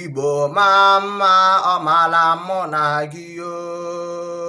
igbo maa mma ọ maara mụ na gị yoo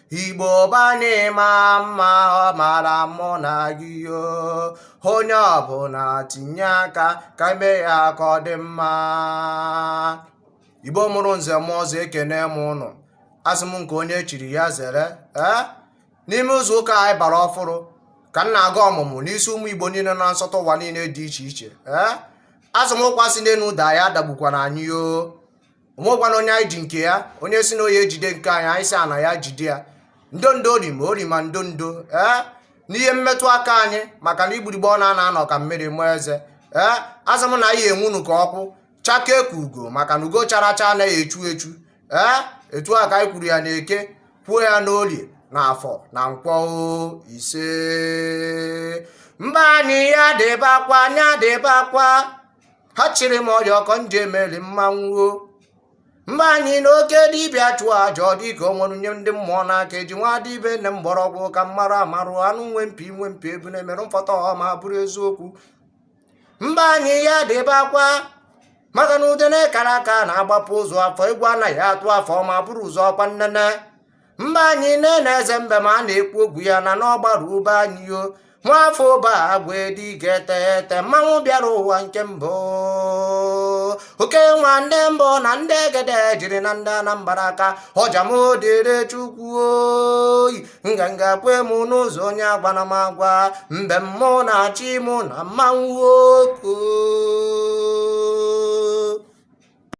igbo baa n'ịma mma ọ maara mụ na gị yo onye ọbụna tinye aka ka e mee ya ka ọ dị mma igbo mụrụ nze mụọ ọzọ ekenee m ụnụ asị m nke onye chiri ya zere ee eh? n'ime izu ụka anyị bara ọfụrụ ka m na-agọ ọmụmụ n'isi ụmụ igbo niine na nsọtụ ụwa niine dị iche iche ee eh? asị m ụkwa si n'enu daa ya adagbukwana anyị yoo o nwekwana onye anyị ji nke ya onye sị na ọ ya-ejide nke anyị anyị sị ana ya jide ya ndo ndo ori ma ori ma ndo ndo ee n'ihe mmetụ aka anyị maka na igburigbe ọ na-ana anọ ka mmiri mụọ eze ee asị m na anyị enwunu ka ọkụ chakee ka ugo maka na ugo chara acha anaghị echu echu ee etu a ka anyị kwuru ya na eke kwuo ya n'orie na afọ na nkwọ oo, ise mba anyị ya dịbakwa ya dịbakwa ha chịrị m ọrịa ọkọ ndị emeli mmanwụ mba anyị na oke dibịa chụọ aja ọ dịka o were nye ndị mmụọ n'aka e ji nwa dibịa ene mgbọrọgwụ ka mmarụ amarụ anụ nwe mpi nwe mpi ebune merụ mfọta ọma bụrụ eziokwu mba anyị ya dịbakwa maka na udene kara aka na-agbapu ozu afọ egwu anaghị atụ afọ ma buru ụzọ ọkwa nnene mba anyị nene eze mbem a na-ekwu okwu ya na n'ọgbara ube anyị yo nwafọ ụba agwa dị ga-ete ete mmanwụ bịara ụwa nke mbụ oke nwa ndị mbụ na ndị egede jiri na ndị anambra aka ọjamodere chukwu oyi nganga kwe m n'ụzọ onye agwana m agwa mbem mụ na-achị mụ na mmanwụ oko